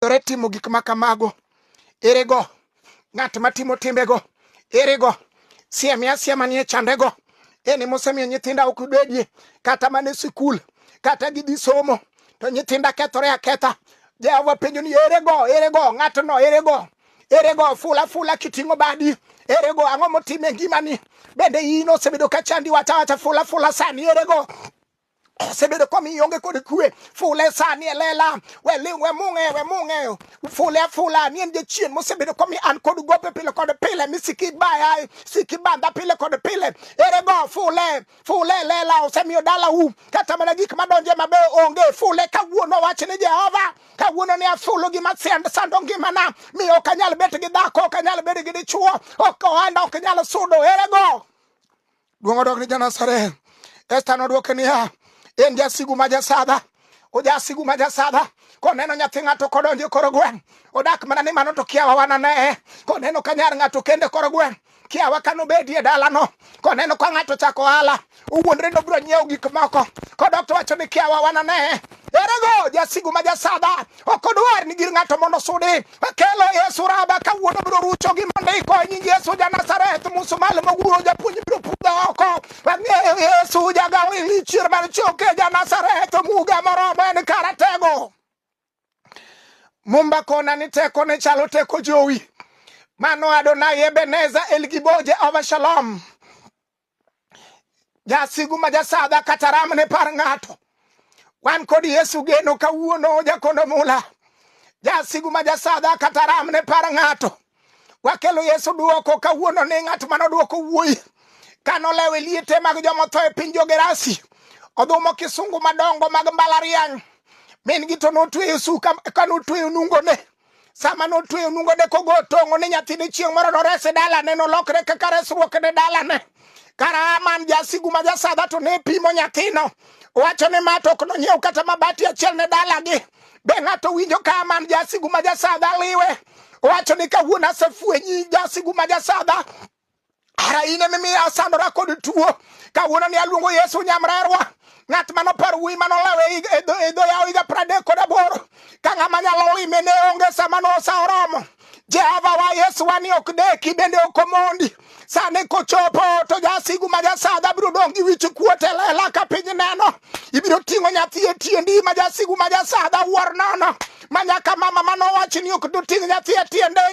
owinjore timo gik ma kamago erego ng'at matimo timbego erego sieme asiema nie chandego eni mosemiyo nyithinda ok bedie kata mana e sikul kata gidhi somo to nyithinda kethore aketha jehova penjo ni erego erego ng'atno erego erego fula fula kiting'o badi erego ang'o motime ngimani bende in osebedo ka chandi wacha wacha fula fula sani erego osebedo komiyo onge kod kwe fule sani elela weling we mung'e we mung'e fule afula ni en jachien mosebedo komiyo an kod gope pile kod pile misiki baya siki banda pile kod pile ere go fule fule elela osemiyo dala u kata mana gik madonje mabe onge fule kawuono wach ni jehova kawuono ni afulo gima send sando ngimana mi ok anyal bet gi dhako ok anyal bet gi dichuo ok ohanda ok nyal sudo ere go Duong' odog ni Janasareth. Esta nodwoke niya, en jasigu ma jasadha ojasigu ma jasadha koneno nyathi ng'ato kodonjo e koro gweng' odak mana ni mano to kiawa wananeye koneno ka nyar ng'ato kende koro gweng' kiawa ka nobedie dalano koneno ka ng'ato chako ohala owuondre nobiro nyiewo gik moko kodok to wacho ni kiawa wananeye erego jasigu ma jasadha ok odwar ni gir ng'ato mondo sudi kelo yesu raba kawuono biro rucho gi mondiko e nying yesu ja nazareth musumal moguro japuonj biro pudha oko ang'eyo yesu jagawo ilichier mar choke ja nazareth muga moromo en karatego mumba kona ni teko ne chalo teko jowi mano adonai ebeneza elgiboje ova shalom Jasigu ma jasadha kata ram ne par ng'ato. Wan kod Yesu geno kawuono jakondo mula. Jasigu ma jasadha kata ram ne par ng'ato. Wakelo Yesu duoko kawuono ni ng'at ma nodwoko wuoyi ka nolewo e liete mag joma otho e piny Jogerasi. Odhumo kisungu madongo mag mbalariany. Min gi to notweyo suka ka notweyo nungone. sama notweyo nungone kogo tong'o ne nyathine chieng' moro norese dalane nolokre kaka resruok ne dalane kara man jasigu ma jasadha to ne pimo nyathino wacho ni ma to ok nonyiew kata mabati achiel ne dalagi be ng'ato winjo ka man jasigu ma jasadha liwe wacho ni kawuono asefwenyi jasigu ma jasadha ara in emimiyo asandora kod tuo kawuono ni aluongo yesu nyamrerwa ng'at mano par wuyi mano lawe e dho yawo higa pradek kod aboro ka ng'ama nyalo lime ne onge sama nosa oromo jehova wa yesu wa ni ok deki bende ok omondi sani kochopo to jasigu ma jasadha biro dong' gi wich kuot e lela ka piny neno ibiro ting'o nyathi e tiendi ma jasigu ma jasadha wuor nono ma nyaka mama manowachi ni ok doting' nyathi e tiende